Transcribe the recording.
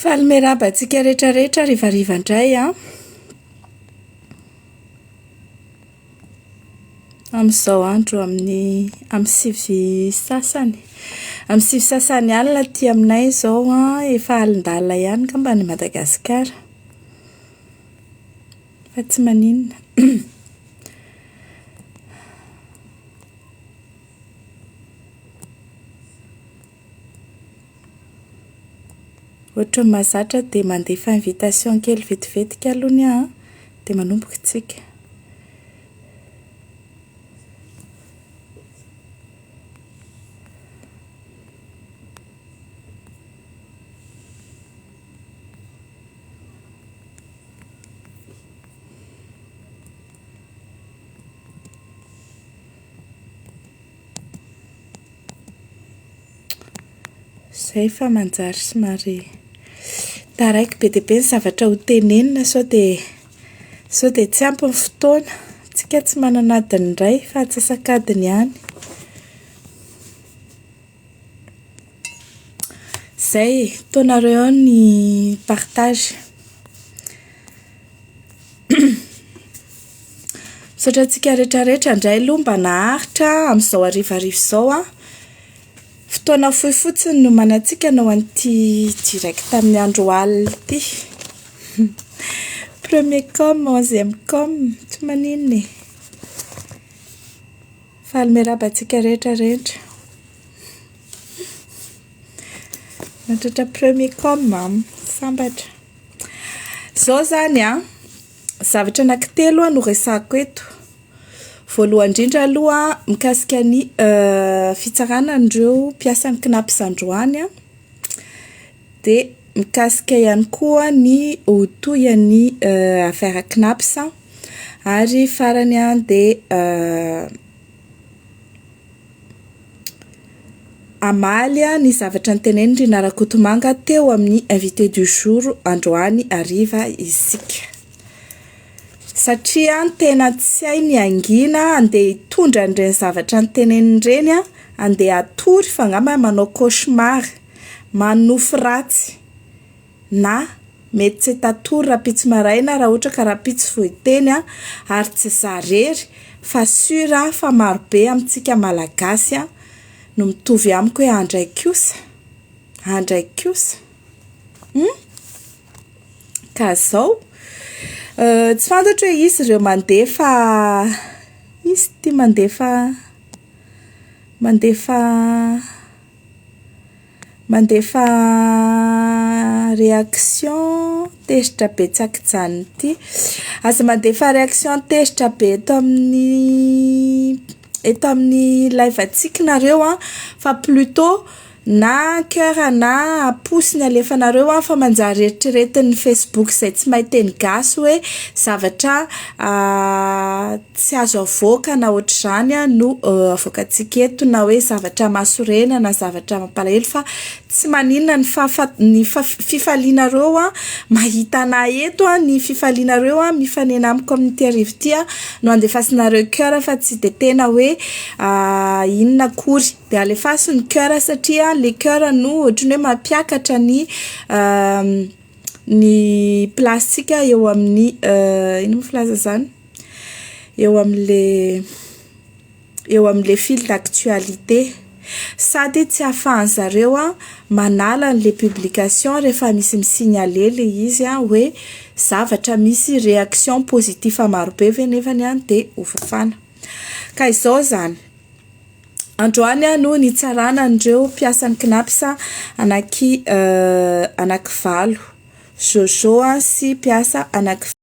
Faly miarahaba antsika rehetra rehetra harivariva indray an! Amin'izao andro amin'ny amin'ny sivy sasany amin'ny sivy sasany alina aty aminay izao an, efa alin-dalina ihany angamba any Madagasikara fa tsy maninona Ohatran'ny mahazatra dia mandefa invitation kely vetivetika aloha ny ahy dia manomboka isika. Izay fa manjary somary taraiky be dia be ny zavatra ho tenenina sao dia sao dia tsy ampy ny fotoana. Isika tsy manana adiny iray fa antsasak'adiny ihany. Izay e, ataonareo ao ny partage. Misaotra antsika rehetra rehetra indray aloha mba naharitra amin'izao harivariva izao an! Fotoana fohy fotsiny no omanantsika hanao an'ity direct amin'ny andro alina ity. Premier com, onzième com, tsy maninona e. Faly miarahaba antsika rehetra rehetra. Miantratra premier com an! Sambatra. Izao izany an! Zavatra anankitelo no resahiko eto. Voalohany indrindra aloha mikasika ny fitsarana an'ireo mpiasan'ny Cnaps androany, dia mikasika ihany koa ny ho tohin'ny afera Cnaps, ary farany dia Hamaly ny zavatra notenenin'i Rinah Rakotomanga teo amin'ny invité du jour androany hariva isika. Satria tena tsy hay ny hangina handeha hitondra an'ireny zavatra noteneniny ireny, handeha hatory fa angamba manao cauchemar, manonofy ratsy. na mety tsy tatory rahampitso maraina raha ohatra ka rahampitso vao hiteny an, ary tsy za rery fa sur aho fa marobe amintsika malagasy an no mitovy amiko hoe andray kosa, andray kosa hum ka zao tsy fantatro hoe iza ireo mandefa iza ity mandefa mandefa Mandefa réaction tezitra betsaka ijanona ity. Aza mandefa réaction tezitra be eto amin'ny eto amin'ny live antsika nareo an, fa plutot na coeur na pouce no alefanareo an, fa manjary eritreretin'ny facebook izay tsy mahay teny gasy hoe zavatra Tsy azo avoaka na ohatr'izany no avoakantsika eto na hoe zavatra mahasorena na zavatra mampalahelo fa tsy maninona ny fahafa- ny fa- fifalianareo mahita anà eto, ny fifalianareo mifanena amiko amin'ity hariva ity no andefasinareo coeur fa tsy dia tena hoe inona akory. Dia alefaso ny coeur satria le coeur no ohatry ny hoe mampiakatra ny ny place-tsika eo amin'ny inona moa filaza izany? eo amin'le eo amin'le fil d'actualité sady tsy afahan'ny zareo a manala an'le publication rehefa misy mi-signaler le izy a hoe zavatra misy réaction positif maro be ve nefany a de ho fafana ka izao zany androany a no nitsarana an'ireo mpiasan'ny cnaps anaky anaky valo jojo sy mpiasa anaky